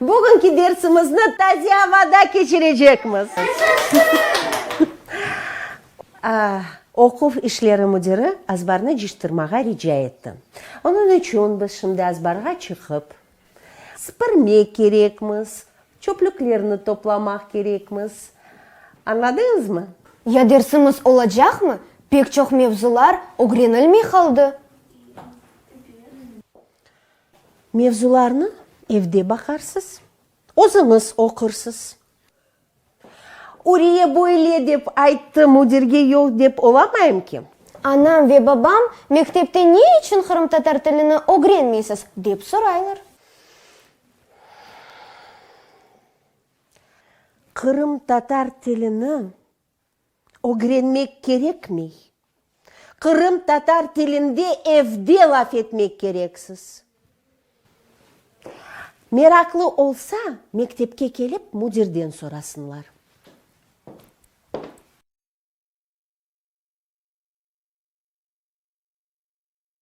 Bugünki dersimizni taze avada keçirecekmiz. Oquv işleri müdiri azbarnı cıştırmağa rica etti. Onıñ içün biz şimdi azbarğa çıqıp, sıpırmek kerekmiz, çöplüklerni toplamaq kerekmiz. Añladıñızmı? Ya dersimiz olacaqmı? Pek çoq mevzular ögrenilmey qaldı. Mevzularnı evde baqarsız, özüñiz oqursız. Uriye böyle dep ayttı, müdirge yoq dep olamayım ki. Anam ve babam, mektepte ne içün qırımtatar tilini ögrenmeysiz? dep soraylar. Qırımtatar tilini. Ögrenmek kerekmey. Qırım tatar tilinde evde laf etmek kereksiz. Meraqlı olsa, mektepke kelip müdirden sorasınlar.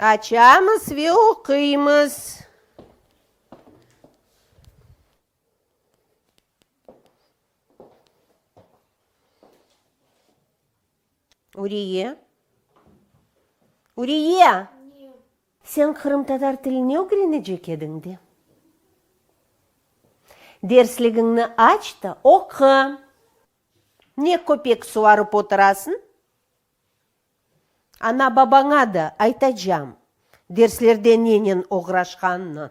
Açamız ve oquymız. Uriye. Uriye! Sen qırımtatar tilini ögrenecek ediñ de. Dersligiñni aç da oqu. Ne köpek suvarıp oturasıñ? Ana-babaña da aytacağım derslerde nenen oğraşqanını.